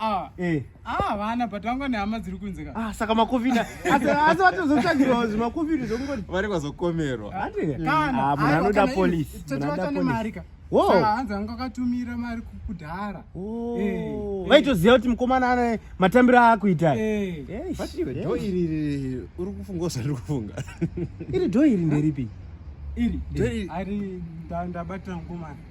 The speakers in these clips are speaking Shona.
Ah. Eh. Ah, vana but vanga nehama dziri kunze ka. Ah, saka makofina. Asi asi vatozotsvagirwa zvimakofina zvokungoti. Vari kwazokomerwa. Hati. Eh. Kana. Ah, munhu anoda police. Munhu anoda police. Wo. Saka hanzi anga akatumira mari kudhara. Oh. Eh. Vaitoziva kuti mukomana ane matambiro akuita. Eh. Yes. But iwe do iri iri uri kufunga usari kufunga. Iri do iri nderipi? Iri. Do iri. Ari ndabatira mukomana.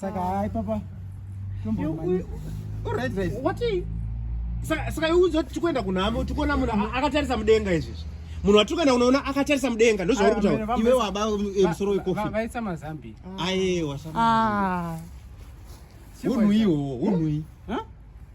Saka hai papa. Tombo. Alright guys. What are you? saka iudzo kuti tikuenda kunhamo tikuona munhu akatarisa mudenga izvezvi munhu watiri kuenda kunoona akatarisa mudenga ndozvauri kutaura iwe waba eh, musoro wekofavaisa mazambi ayewa ah. unhuiwo unhui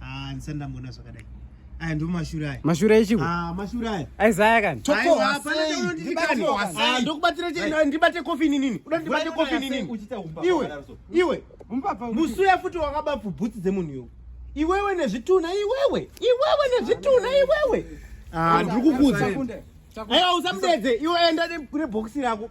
Ah, ndisati ndamboona zvakadai. Aya ndo mashure aya. Mashure echiko. Ah, mashure aya. Aizaya kani. Choko hapana ndikani. Ah, ndokubatira cheni ndibate kofi nini? Uda ndibate kofi nini? Iwe. Iwe. Musuya futi wakaba bhutsi dzemunhu yo. Iwewe nezvituna iwewe. Iwewe nezvituna iwewe. Ah, ndikukuudza. Ayo usamudedze. Iwe enda kune box rako.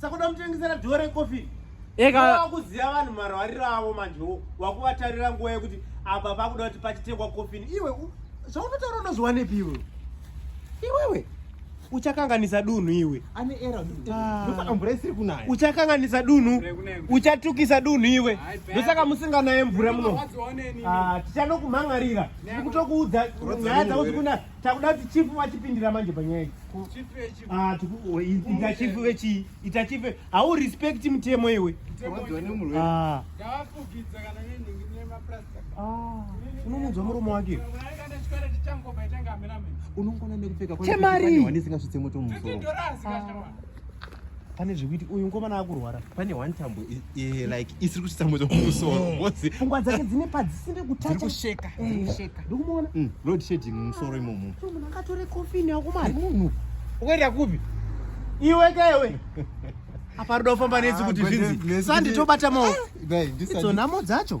Saka unoda mutengesera door recoffin. Eka wakuziva vanhu marwariro avo manje wo wakuvatarira nguva yekuti apa pakuda kuti pachitengwa coffin iwe zvaunotaura unozviwanepi iwe iwewe uchakanganisa dunhu iwe ane era ah. mvura isiri kunaya uchakanganisa dunhu uchatukisa dunhu iwe ndosaka musinganaye mvura muno ah, tichanokumhan'arira kutokuudza nyaya dzauti kunaya Takuda kuti chief vachipindira manje panyaya idzi. Ah, oh, ita chief vechii? Ita chief hau respect mutemo iwe. Ah. ah. Unomunzwa murume wake. Unongona nekupfeka kwa. Chemari. Wanisingazvitse moto mumusoro. pane zvekuti uyu mukomana akurwara pane one tambo like isiri kuti tambo dzomusoro pfungwa dzake dzine padzisiri kutachakusheka ndikumuona road shading musoro imomo munhu akatore kofini yako mari munhu ukaenda kupi iwe kewe apa ruda kufamba nesi kuti zvinzi sanditobata maoko idzo nhamo dzacho